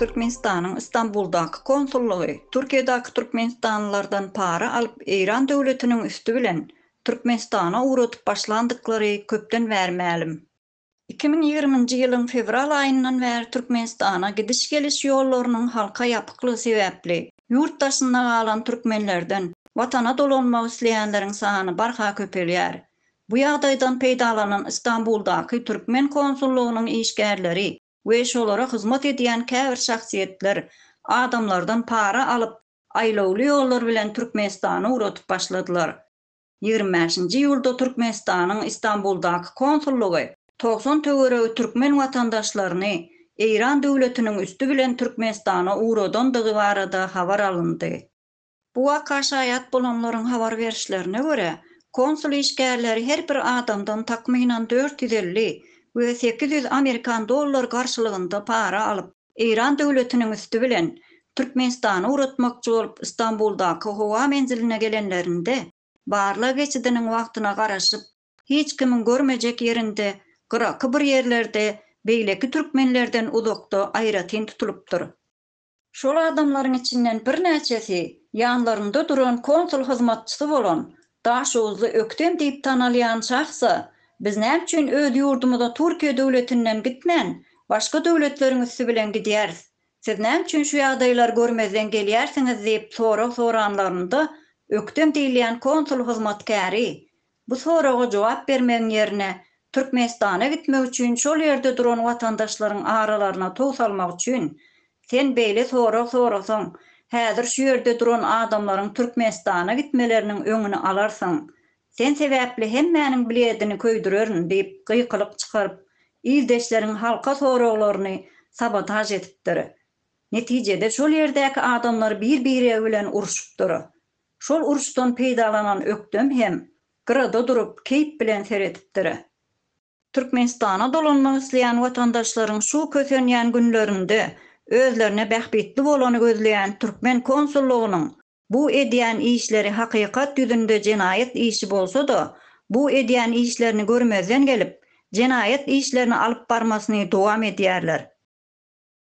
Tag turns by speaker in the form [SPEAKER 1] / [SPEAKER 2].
[SPEAKER 1] Türkmenistanyň Istanbuldaky konsullygy Türkiýedäki türkmenistanlylardan para alyp Eýran döwletiniň üsti bilen Türkmenistana ugradyp başlandyklary köpden bäri mälim. Iki müň ýigriminji ýylyň fewral aýyndan bäri Türkmenistana gidiş-geliş ýollarynyň halka ýapyklygy sebäpli ýurt daşynda galan türkmenlerden watana dolanmak isleýänleriň sany barha köpelýär. Bu ýagdaýdan peýdalanan Istanbuldaky türkmen konsullygynyň işgärleri we şolara hyzmat edýän käbir şahsyýetler adamlardan para alyp, aýlawly ýollar bilen Türkmenistana ugradyp başladylar. Ýigrimi bäşinji iýulda Türkmenistanyň Istanbuldaky konsullygy togsan töweregi türkmen watandaşlaryny Eýran döwletiniň üsti bilen Türkmenistana ugradandygy barada habar alyndy. Bu waka şaýat bolanlaryň habar berişlerine görä, konsul işgärleri her bir adamdan takmynan dört ýüz elli we sekiz ýüz amerikan dollar garşylygynda para alyp, Eýran döwletiniň üsti bilen Türkmenistana ugratmakçy bolup Stambuldaky howa menziline gelenlerinde, barlag geçidiniň wagtyna garaşyp, hiç kimiň görmejek ýerinde, gyraky bir ýerlerde beýleki türkmenlerden uzakda aýratyn tutulypdyr. Şol adamlaryň içinden birnäçesi ýanlarynda duran konsul hyzmatçysy bolan Daşoguzly Öktem diýip tanalýan şahsa, Biz näme üçin öz ýurdumyza Türkiýe döwletinden gitmän, başga döwletleriň üsti bilen gidýäris? Siz näme üçin şu ýagdaýlary görmezden gelýärsiňiz diýip sorag soranlarynda, Öktem diýilýän konsul hyzmatkäri, Bu soraga jogap bermegiň ýerine, Türkmenistana gitmek üçin şol ýerde duran watandaşlaryň aralaryna tow salmak üçin, sen beýle sorag sorasaň, häzir şu ýerde duran adamlaryň Türkmenistana gitmeleriniň öňüni alarsyň. Sen sebäpli hemmäniň bledini köýdürerin diýip gykylyk çykaryp, ildeşleriň halka soraglaryny sabotaž edipdir. Netijede şol ýerdäki adamlar bir-biregi bilen urşupdyr. Şol uruşdan peýdalanan ökdem hem gyrada durup keýp bilen seredipdir. Türkmenistana dolanmak isleýän watandaşlaryň şu kösenýän günlerinde özlerine bähbitli bolany gözleýän türkmen konsullygynyň bu edýän işleri hakykat ýüzünde jenaýat işi bolsa-da, bu edýän işlerini görmezden gelip, jenaýat işlerini alyp barmasyny dowam edýärler.